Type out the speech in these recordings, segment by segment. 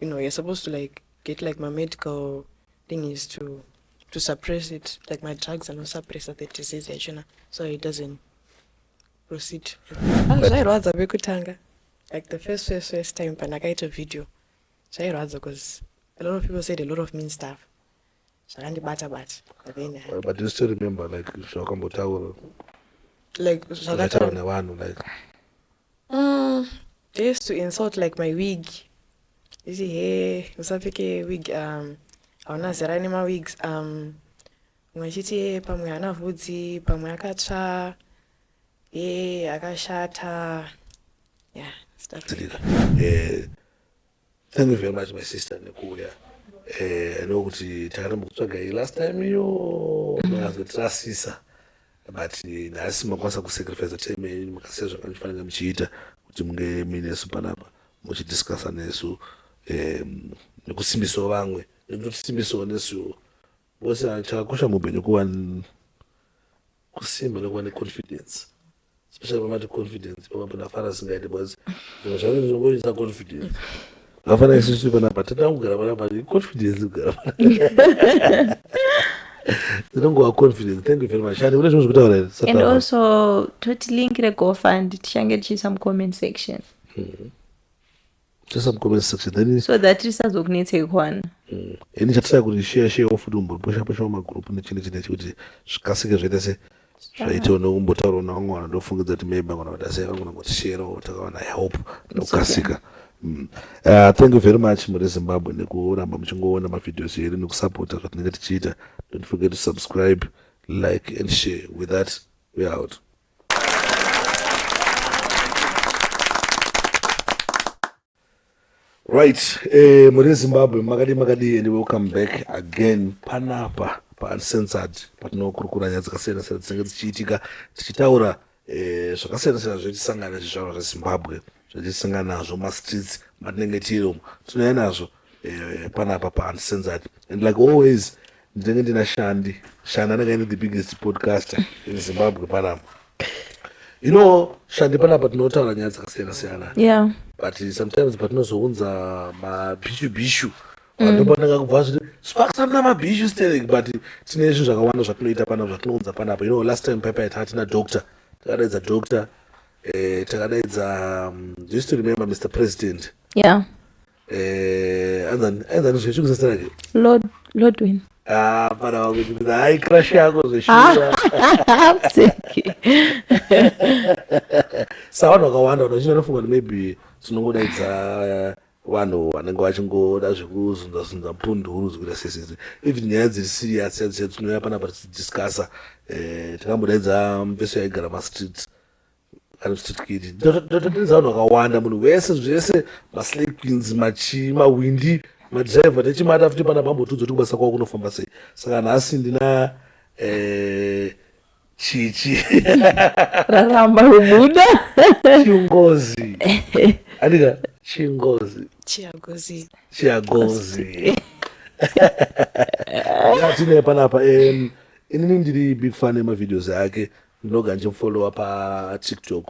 you know you're supposed to like get like my medical thing is to to suppress it like my drugs and suppress the disease yachona so it doesn't proceed ah, zvairwadza vekutanga like the first first first time pandakaita video zvairwadza because a lot of people said a lot of mean stuff zvakandibata bata then uh, but you still remember like zvakambotaura like zvakataura nevanhu like Mm, they used to insult like my wig. You see, hey, usapfeke wig, um, hauna zera nemawigs, um, mwe achiti hey, pamwe haana vhudzi, pamwe akatsva, hey, akashata. Yeah, stuff like that. Eh, Thank you very much my sister nekuuya eh, nokuti takaramba kutsvaga iyi last time iyo makazotirasisa mm. but eh, nhasi makwanisa kusacrifice time yenyu makasiya zvakanifanira muchiita kuti munge muinesu panapa muchidiscussa nesu eh, nekusimbisawo vamwe nekutotisimbisawo nesuwo vose chakakosha muupenyu kuva kusimba nekuva neconfidence especially pamati confidence papapo ndafara singaite because zvimwe zvacho zvinongoisa confidence vafana isusu panapa tinoda kugara panapa confidence kugara zinongova confidence thank you very much and une zvimwe zvekutaura here and also toti link regofund tichange tichiisa mucomment section mm -hmm. just some comment section then so that tisazokunetsei kwana mm. ini chatisa kuti share share off kuti umbopusha pusha magroup nechini chine chikuti zvikasike zvaita se zvaitawo nokumbotaura na vamwe vanhu ndofungidza kuti maybe vangona kuti asai vangona kuti share or takawana help nokukasika mm. uh, thank you very much muri zimbabwe nekuramba muchingoona mavideos edu nekusapota zvatinenge tichiita don't forget to subscribe like and share with that we out right eh, muri zimbabwe makadii makadii and welcome back again panapa pauncensored patinokurukura nyaya dzakasiyana siyana dzinenge dzichiitika tichitaura eh, zvakasiyana siyana zvetisangana nezvizvarwa zvezimbabwe zvatisanga nazvo mastreets matinenge tiri umo tinouya nazvo eh, panapa paantisenzati and like always ndinenge ndina shandi shandi anenge aine the biggest podcaster in zimbabwe panapa you know shandi panapa tinotaura nyaya dzakasiyana siyana yeah. but sometimes patinozounza mabhishu bhishu vandopananga mm. kubva zviri sparks amna mabhishu sterek but tine zvinhu zvakawanda zvatinoita panapa zvatinounza panapa you know last time paipa yatatina doctor takadaidza doctor eh, takadaidza um, do you still remember mr president yeah eh, anzani anzani zve chikusa zita rake lord lordwin ah pana wangu kuti hayi crush yako zveshuwa Mseki. sa vanhu vakawanda vanhu vachinge vanofunga kuti maybe tinongodaidza eh, vanhu vanenge vachingoda zvekuzunzazunza mpunduru zvekuita sesese even nyaya dziri serious dzatichadzinouya panapa tichidiscussa eh, takambodaidza mpeso yaigara mastreets anositwiri ndototenza vanhu vakawanda munhu wese zvese maslay queens machii mawindi madriver nechimata futi pana bambotudzo ti kubasa kwavo kunofamba sei saka nhasi ndina eh, chichi raramba kubuda chingozi andika chingozi chiagozi chiagozi yatine panapa um, inini ndiri big fan yemavideos ake Ndinoga ndichimufollowa patiktok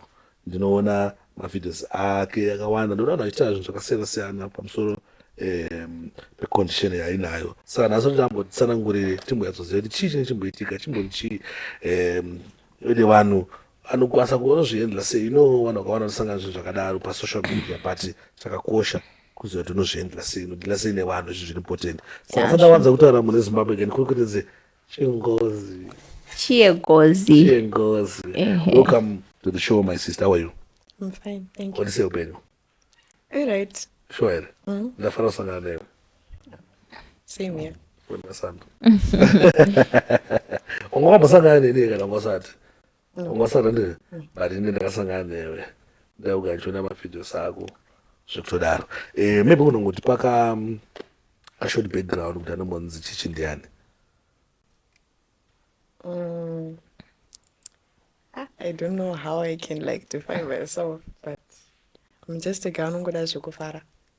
ndinoona mavideos ake akawanda ndinoona vanhu vachitaura zvinhu zvakasiyana siyana pamusoro um, pecondition yainayo saka nhasi kuti ambotsanangurire timbonyatsoziva kuti chii chine chimboitika chimbori chii um, ende vanhu anokwanisa kunozviendla sei ino vanhu vakawanda vanosangana zvinhu zvakadaro pasocial media but chakakosha kuziva kuti unozviendla sei unodila sei nevanhu izvi zviri important saka fanira wanza kutaura mune zimbabwe again kuri kutenze Chengozi. Chiegozi. Chengozi. Ehe. Welcome to the show my sister. How are you? I'm fine, thank you. Odise upenyu. All right. Sure here. Mm. Ndafara kusangana nawe. Same here. Wena sando. Ungambosangana nini kana ngosati? ungasara ne but ine ndakasangana newe ndaugandiona mavideos ako zvekutodaro eh, maybe unongoti paka mm, ashort background kuti anombonzi chichi ndiani mm. ah, i don't know how i can like define myself but i'm just a guy anongoda zvekufara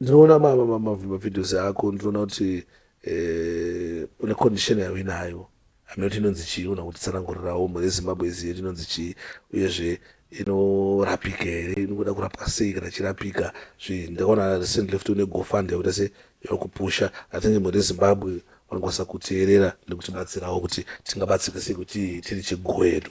Ndinoona mavideos ako ndinoona kuti eh, une condition yayo inayo hameno kuti inonzi chii una kutitsanangurirawo mhuri yezimbabwe izi yedu inonzi chii uyezve inorapika here inoda kurapwa sei kana chirapika zvi ndakaona recent left une gofund yakuita se yakupusha i think mhuri yezimbabwe vanokwanisa kuteerera nekutibatsirawo kuti tingabatsirika sei kuti tiri chigwedu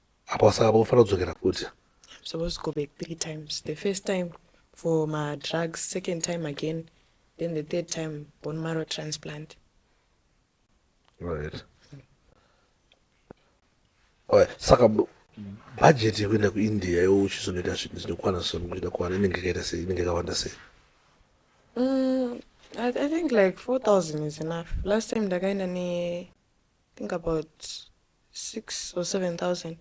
apa saka unofanira kudzokera futi supposed to go back three times the first time for madrugs second time again then the third time bone marrow transplant right right saka budget yekuenda kuindia yo uchizonoita zvinhu zvinokwana zvinoita kwana inenge ikaita sei inenge ikawanda sei mm, I, i think like four thousand is enough last time ndakaenda ne think about six or seven thousand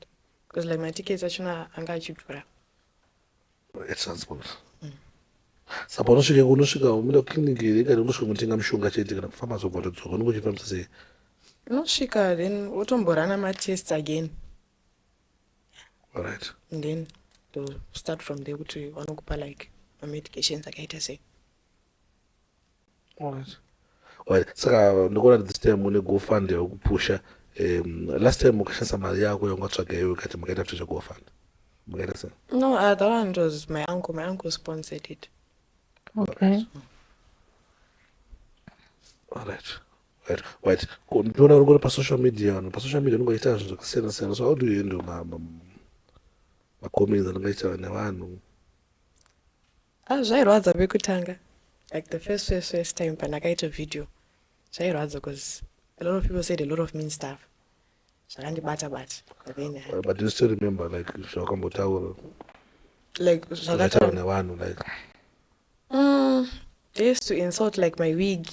because like matickets achona anga achidhura etransport mm. saka unosvika unosvika umira clinic here kana unosvika kunotenga mushonga chete kana kufamba zobva watodzoka unenge uchifambisa sei unosvika then wotomborana matests again right and then to start from there kuti vanokupa like mamedications akaita sei saka ndikuona this time une gofund yekupusha um, last time ukashandisa mari yako yaungatsvaga iwe kati makaita kutoita gofund makaita sei no uh, that one was my uncle my uncle sponsored it okay all right right right ndiona uri kuri pasocial media vanhu pasocial media unongoita zvinhu zvakasiyana siyana so how do you handle macomments anongaita nevanhu Ah zvairwadza pekutanga like the first first first time pandakaita video zvairwadza because a lot of people said a lot of mean stuff zvakandibata bata but then I- but do you still remember like zvawakambotaura like zvakataura zvakataura nevanhu like Mm, they used to insult like my wig.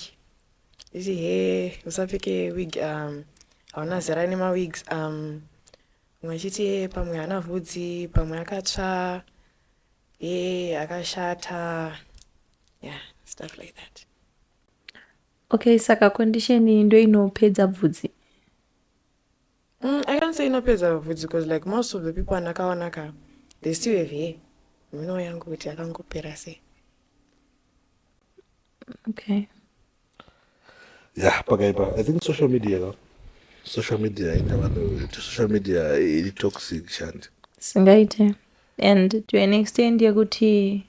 You see, hey, usapfeke wig um hauna zera nema wigs um mwe achiti hey, pamwe haana vhudzi pamwe akatsva Hey, akashata yeah stuff like that okay saka condition iyi ndo inopedza bvudzi mm, i can't say inopedza bvudzi because like most of the people andakaona ka they still have hair mino yangu kuti akangopera sei okay Yeah, pakaipa. I think social media ka. Social media ina vanhu social media iri toxic shandi. Singaite. And to an extent yekuti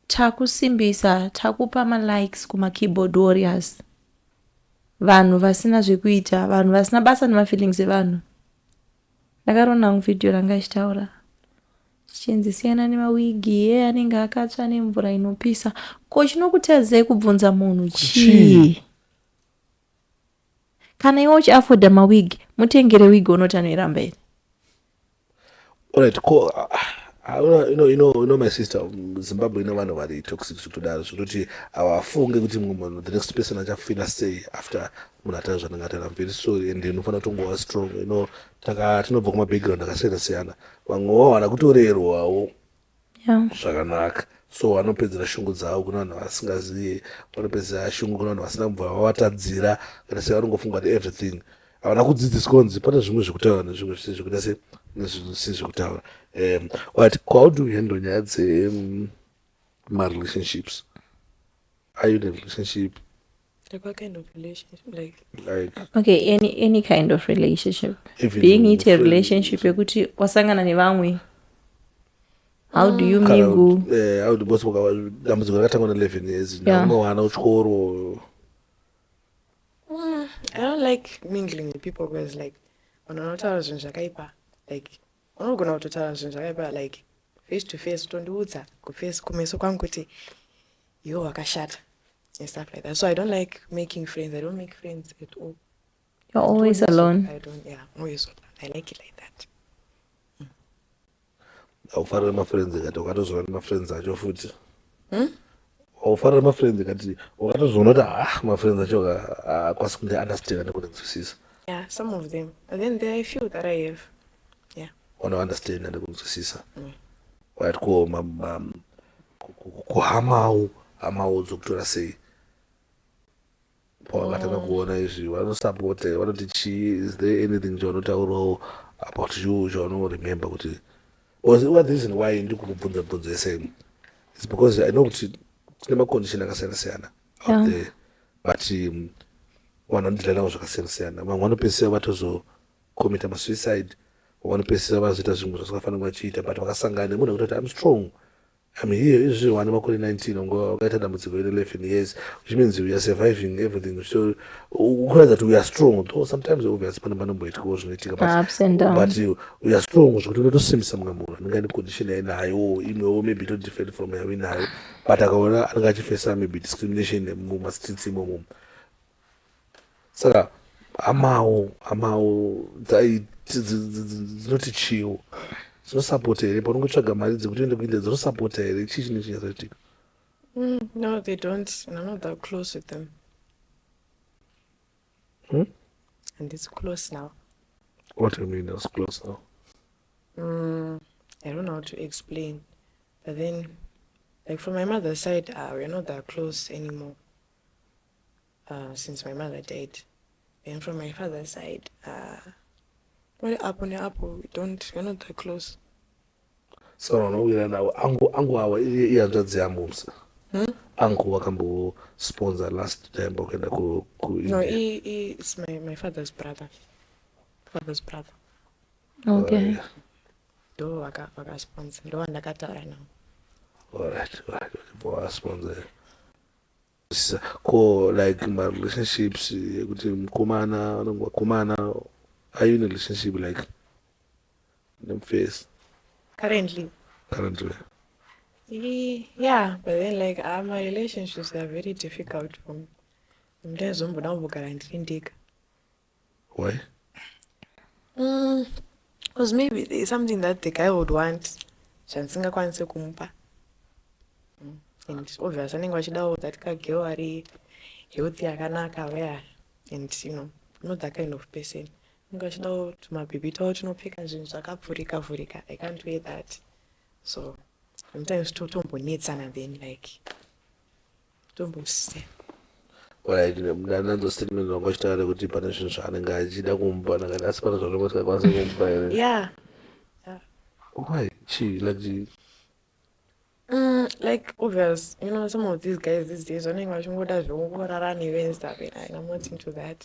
takusimbisa takupa malikes kuma keyboard warriors vanhu vasina zvekuita vanhu vasina basa nemafeelings evanhu Ndakaona hangu video ranga ichitaura chichinzi siyana nemawigi ye anenge akatsva nemvura inopisa ko chinokutadzei kubvunza munhu chii kana iwe uchiafoda mawigi mutengere wigi unoti anoiramba here right ko ah, you know, you know, you know my sister zimbabwe ine vanhu vari toxic zvekutodaro zvekuti hawafunge kuti mumwe munhu the next person achafila sei after munhu atanga zvananga tara very sorry and unofanira kutongova strong you know taka tinobva kuma background akasiyana siyana vamwe wawana kutorerwawo zvakanaka so vanopedzera shungu dzavo kuna vanhu vasingazive vanopedzera shungu kuna vanhu vasina kubva vavatadzira kana se vanongofunga kuti everything havana kudzidziswa kunzi pane zvimwe zvekutaura nezvimwe zvisi zvekuita se nezvinhu zvisi zvekutaura um but how do you handle nyaya dze um, marelationships are you in a relationship Like what kind of relationship? Like, like okay any any kind of relationship Even being it a friend- relationship yekuti wasangana nevamwe how do you kana mingle kuti, eh, how do both waka- dambudziko rakatangwa na11 years Yeah. naumwe wana uchikoro I don't like mingling with people because like vanhu vanotaura zvinhu zvakaipa like unogona kutotaura zvinhu zvakaipa like face to face utondiudza kuface kumeso kwangu kuti yo wakashata and stuff like that so i don't like making friends i don't make friends at all you're always alone i don't yeah i'm always alone i like it like that mm. aufanire mafriends ngati ukatozova nemafriends acho futi hmm? waufarira oh, mafriends akati wakatozviona kuti ha ah, mafriends acho akwasi kunge understanda nekunzwisisa yeah some of them and then there are few that i have yeah wanounderstanda nekunzwisisa mm. right ko kuhamawo hamawo dzokutora sei pavangatanga kuona izvi vanosapota here vanoti chii is there anything chaunotaurawo about you chaunoremember kuti oziva the reason why ndi kumubvunza bvunzo yese ino is because i know kuti tine macondition akasiyana siyana out there but um, vanhu vanodila navo zvakasiyana siyana vamwe vanopedzisira vatozokomita masuicide vamwe vanopedzisira vazoita zvimwe zvasikafanira vachiita but vakasangana nemunhu akuti kuti im strong I'm here izvezvi wane makore 19 ungova wakaita dambudziko iri 11 years which means we are surviving everything so ukuratidza kuti we are strong though sometimes obviously pane panomboitikawo zvinoitika but we are strong zvekuti unotosimbisa mumwe munhu anenge ane condition yainayo imwewo maybe to different from yainayo but akaona anenge achifesa maybe discrimination mumastreets imomomo saka hamawo hamawo dzinoti chiwo dzinosapota here paunongotsvaga mari dzekuti uende kuindia dzinosapota here chii chine chinyatsoitika mm, no they don't and i'm not that close with them hmm? and it's close now what do you mean it's close now mm, i don't know how to explain but then like from my mother's side uh, we're not that close anymore uh, since my mother died then from my father side uh, vari apo neapo we don't we're not that close so vanouya nawo angu angu awa ihanzvadzi yamusa hmm? angu wakambosponsor last time wakaenda ku, ku no he, he is my, my father's brother father's brother okay uh, ndo vakasponsor ndo vandakataura nawo alright alright vasponsor Ko like ma relationships ekuti mukomana vanonge vakomana are you in a relationship like nemufesi currently currently yeah but then like uh, my relationships are very difficult for me ndazomboda kumbogara ndiri ndega Why? Mm, because maybe there's something that the guy would want zvandisingakwanise kumupa mm, and obvious vanenge vachidawo that kageo ari healthy akanaka where and you know not that kind of person vanenge vachidawo tumabhibhi tawo tinopfeka zvinhu zvakavhurika vhurika i can't wear that so sometimes totombonetsana then like ndananzostatement vanga vachitaura kuti pane zvinhu zvaanenge achida kumupa ndakati asi pane zvaunenge usikakwanisa kumupa here why chii like Mm, like obvious you know some of these guys these days vanenge vachingoda zvekurara newe and stuff and i'm not into that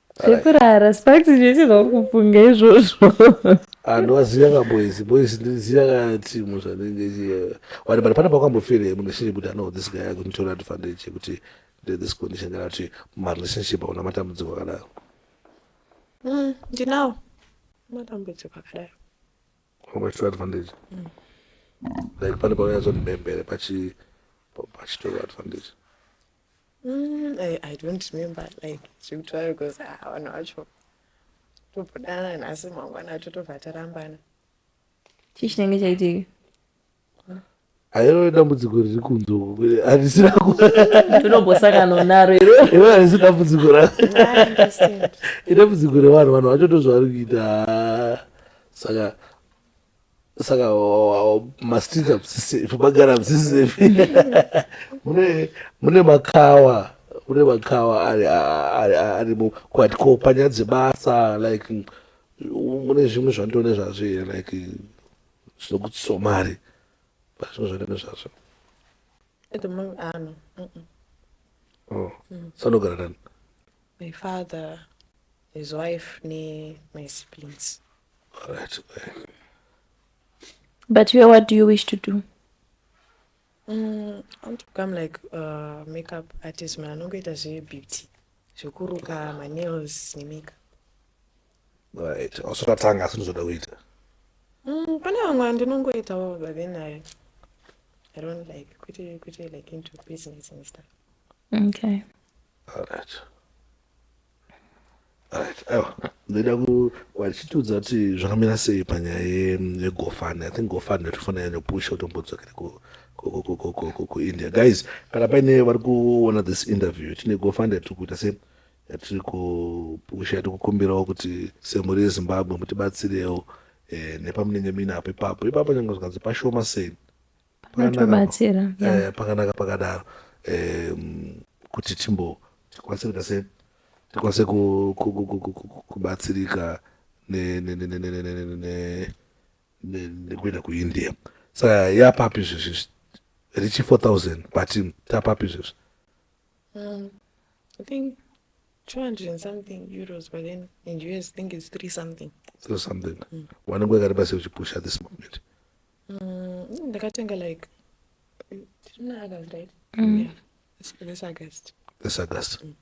zvekurara sparks zvese zvakufunga izvozvo anhu aziva ka boys boys ndiziva ka team zvanenge ichiva wani but pane pakwambofira here munhu shiri kuti ano this guy akunditora advantage yekuti nde this condition kana kuti marelationship auna matambudziko akadaro mm, ndinawo matambudziko akadaro unobatora advantage mm. like pane paunyatsondibembere pachitora advantage Mm, I, I don't remember like zvekutaura because ah, vanhu vacho tobhodana nhasi mangwana acho tobva tarambana chii chinenge chaitika hairo dambudziko riri kunze uku harisina ku- tinombosangana naro iro iro harisi dambudziko ra I understand. idambudziko revanhu vanhu vacho ndozvavari kuita saka saka mastreet amusisefi magara amusisefi mune makawa kune makawa arimo kwati ko panyaya dzebasa like mune zvimwe zvandone zvazvo here like zvinokutsiso mari pazvimwe zvandone zvazvo oh, mm. sanogara nani my father his wife ne my siblings Alright. But you, what do you wish to do? Mm, I want to become like a uh, makeup artist man anongoita zvebeauty zvekuruka manails nemakeup right also tatanga asi ndizoda kuita mm, pane vamwe andinongoitawo but then i i don't like kwete kwete like into business and stuff okay all right ndoda kuwachitiudza kuti zvakamira sei panyaya yegofani i think gofani yatofana yanopusha kutombodzokera kuindia guys kana paine vari kuona this interview tine gofani yatiri kuita se yatiri kupusha yatiri kukumbirawo kuti semhuri yezimbabwe mutibatsirewo eh, nepamunenge muinapo ipapo ipapo nyange zvikanzi pashoma sei panotobatsira eh, pakanaka pakadaro um, kuti timbo tikwatsirika sei tikwanise kubatsirika nekuenda kuindia saka yapapi izvezvi richi 4000 patim tapapi izvezvi um, i think 200 and something euros but then in us think it's 3 something 3 something mm. wanenge wakaripa sei uchipusha this movement Mm, ndakatenga like tiri muna august right mm. yeah. this, this august this august mm.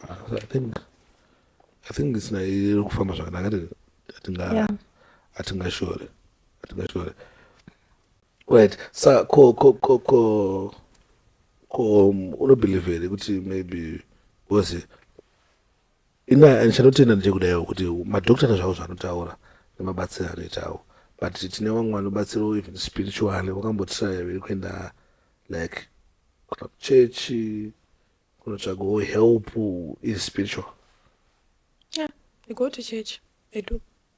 uh, i think i think isina iri kufamba zvakanaka atinga atingashore atingashore right sa ko ko ko ko ko um, unobelieve here kuti maybe because Ina ndichanotenda ndiri kudaiwo kuti madhokitara zvavo zvanotaura nemabatsiro anoitawo but tine vamwe vanobatsirawo even spiritually vakambotiraya viri kuenda like kana kuchechi kunotsvagawo help is spiritual yeah, i go to church i do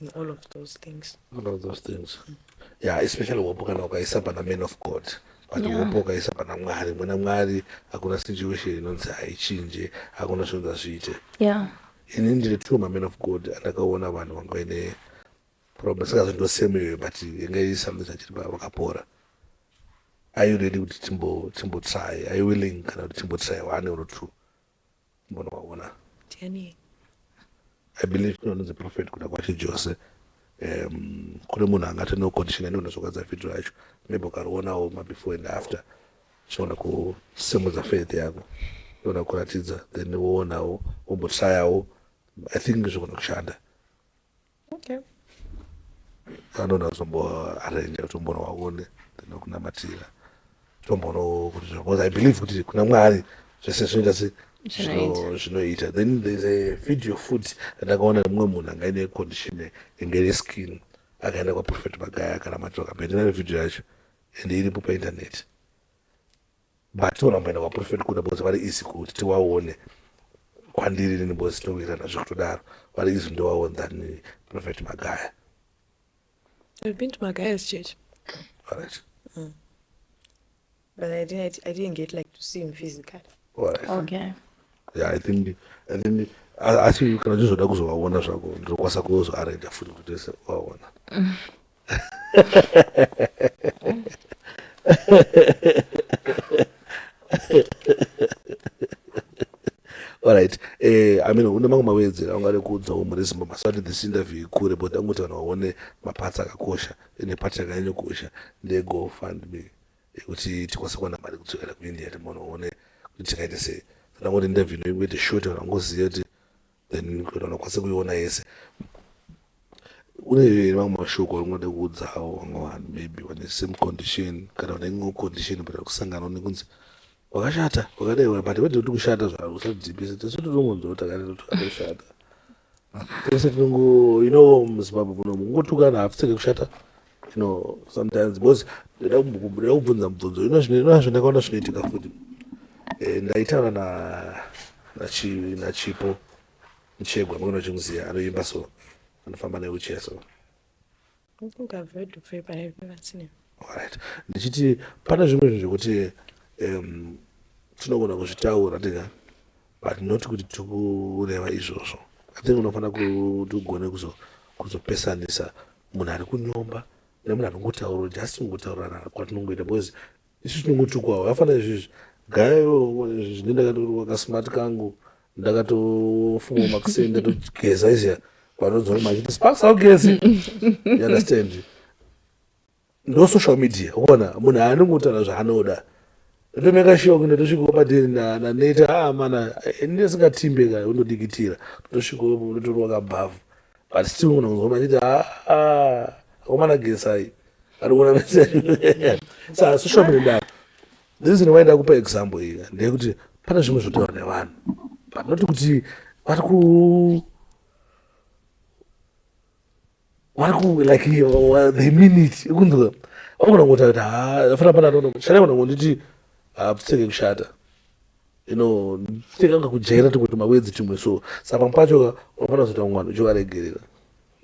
in all of those things all of those things mm. yeah especially hope kana ukaisa pana man of god but yeah. hope ukaisa pana mwari muna mwari hakuna situation inonzi haichinje hakuna zvinonzi hazviite yeah ini ndiri two maman of god andakaona vanhu vanga vaine problem sikazi ndosemewe but inga iri something zvachiri vakapora are you ready kuti timbotry are you willing kana kuti timbotry one or two munovaona ndiani i believe kune vanonzi prophet kuda kwashe jose um, kune munhu angati no condition aniona zvokwadza video yacho maybe ukarionawo mabefore and after chiona kusimudza faith yako iona kuratidza then woonawo wombotrayawo i think zvogona kushanda okay anoda kuzomboarrange kuti umbonovaone then okunamatira tombono kuti because i believe kuti kuna mwari zvese zvinoita se zvinoita then there's a video futi andakaona nemumwe munhu anga ine condition inge ine skin akaenda kwaprophet magaya akanamatira kambe ndinane video yacho and iripo painternet But togona kumboenda kwaprofet kuda because vari easy kuti tiwaone kwandiri inini because towirana zvekutodaro vari easy ndowaone than prophet magaya I've been to Magaya's church. All right. Mm. But I didn't, I didn't get like to see him physically. All right. Okay. Yeah, I think, I think, asi kana zvizoda kuzovaona zvako ndinokwanisa kuzoaranja futi kuti tese vaona Alright, eh, I mean, une mamwe mawedzera aungade kuudzawo mhuri yeZimba masati this interview ikure but angoti vanhu vaone maparts akakosha ende part yakanyanya kukosha ndeye go fund me yekuti tikwanise kuwana mari kudzokera kuindia timaona one kuti tikaite sei saka ngoti interview inoite short vanhu vangoziva kuti then kana unokwanisa kuiona yese une mamwe mashoko aunode kuudzawo vamwe vanhu maybe vane same condition kana vane imwewo condition but kusangana une kunzi wakashata wakadaiwa but wede kuti kushata zvavo usadhipisa tese tinomonzwa kuti akati akashata tese tinongo you know muzimbabwe muno mungotukana hapfiseke kushata you know sometimes because ndoda kubvunza mubvunzo you know zvinazvo ndakaona zvinoitika futi eh, ndaitaura na nachipo muchegwa mukona chimuziya anoimba so anofamba neuchiya so right ndichiti pane zvimwe zvinhu zvekuti um, tinogona kuzvitaura tega but not kuti tiri kureva izvozvo i think unofanira kuti ugone kuzopesanisa munhu ari kunyomba nemunhu anongotaura just kungotaurirana kwatinongoita because isu tinongotukwawo afanira izvizvi gayo zvine ndakatoruwa kasmart kangu ndakatofunga makuseni ndatogeza izia vanonzwa machiti sparks augezi you understand ndo social media uona munhu haani kutaura zvaanoda ndotomeka shock ndotosvikawo padhiri naneta a ah, mana eh, ndisingatimbe ka undodikitira ndotosvikawo ndotorwa kabhavhu but still munhu kunzwa machiti aa ah, ah, akomana gesai arikuona message sa social media ndava the reason why ndakupa example iyi ndeyekuti pane zvimwe zvotaura nevanhu but not kuti vari ku vari ku like the minute ikunzwa vakona kuti kuti ha fana pana nono shana kana kunditi hapusenge kushata you know nditenga nga kujaira tikuti mawedzi timwe so sa pamwe pacho unofana kuzoita mwana uchivaregerera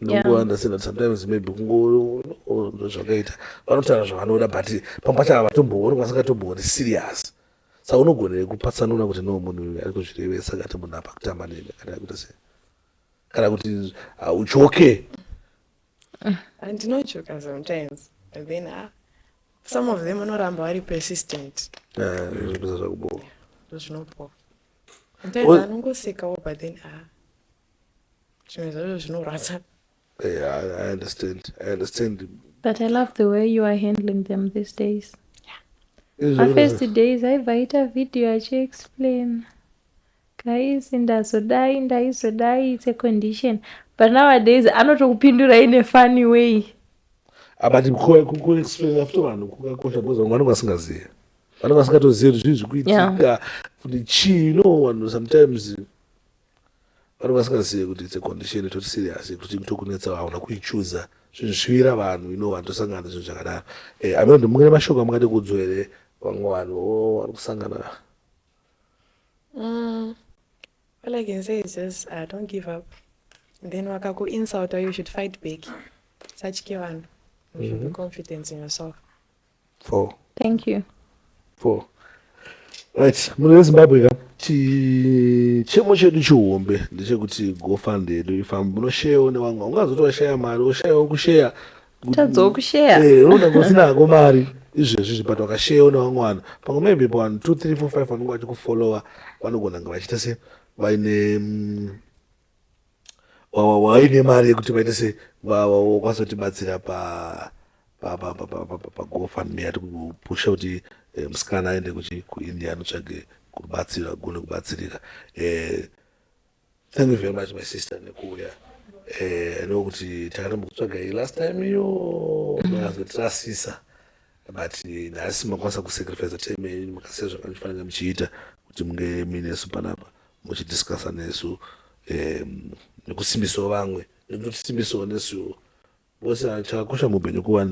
nongounderstand sometimes maybe kungozvakaita vanotaura zvavanoda but pamwe pacho ava vatombooni kwasingatombori serious sa unogonere kupatsanura kuti no munhu uyu ari kuzvirevesa kati munhu apa kutamba nene kana kuita sei kana kuti hauchoke ah, ndinochoka sometimes then ah, some of them anoramba vari persistent ah, zvinoita zvakubowa zvinobowa sometimes anongosekawo but then ah, zvimwe zvacho zvinorwadza Yeah, I, I understand. I understand. But I love the way you are handling them these days. Yeah. My first days I write a video I should explain. Guys, ndazodai ndaizodai it's a condition. But nowadays anotokupindura in a funny way. Ah, but ku explain after vanhu kukakosha because vanhu vanenge vasingazive. Vanenge vasingatozive kuti zvii zviri kuitika kuti chii no vanhu sometimes Vanhu vasingazive kuti it's a condition itori serious yekuti chinhu tokunetsa hauna kuichuza zvinhu zvivira vanhu ino vanhu tosangana nezvinhu zvakadaro eh, ameno ndimungene mashoko amungade kuudzwa here vamwe vanhu oh, vari kusangana mm, all i can say is just uh, don't give up and then wakakuinsulta you should fight back satye vanhu you should be mhm. confident in yourself Four. Thank you. Four. Right, mune veZimbabwe ka chichemo chedu chihombe ndechekuti gofund yedu ifambe munosheyawo nevamwe ungazoto washaya mari woshayawo kusheya tadzowo kusheya eh, unoda kusinako mari izvezvi zvibata wakasheyawo nevamwe vanhu pamwe maybe pavanhu two three four five vanenge vachikufollowa vanogona nga vachiita se vaine mm, waine mari yekuti vaite se wakwanisa kutibatsira pa pagofundme yati kupusha kuti eh, musikana aende kuchi kuindia anotsvage kubatsira agone kubatsirika eh, thank you very much my sister nekuuya eh, ane kuti takaramba kutsvaga iyi last time iyo mazotirasisa but nhasi makwanisa kusacrifice time yenyu makasiya zvakandifanira muchiita kuti munge muinesu panapa muchidiscussa nesu um nekusimbisawo vamwe nekutotisimbisawo nesuwo because ah, chakakosha muupenyu kuva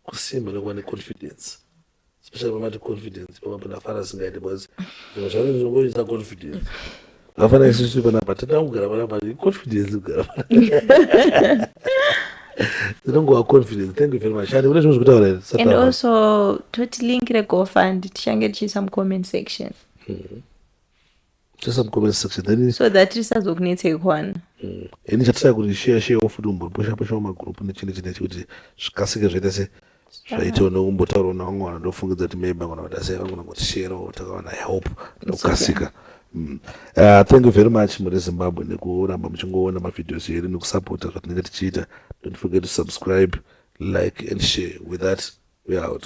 kusimba nekuva neconfidence especially pamati confidence papapo ndafara singaite because zvimwe zvacho zvinongoisa confidence vafana isusu panapa tinoda kugara panapa confidence kugara panapa zinongova confidence thank you very much and kune zvimwe zvekutaura and also toti link regofund tichange tichiisa mucomment section mm. just some comment section then so that tisazokunetsei kwana mm. ini chatisa kuti share share wo futi umbopusha pusha wo magroup nechini chine chikuti zvikasike zvaita se zvaitawo nokumbotaurawo navamwe vanhu ndofungidza kuti maybe vangona kuita sei vangona kuti shero takawana help nokukasika mm. uh, thank you very much muri zimbabwe nekuramba muchingoona mavideos edu nekusapota zvatinenge tichiita don't forget to subscribe like and share with that we out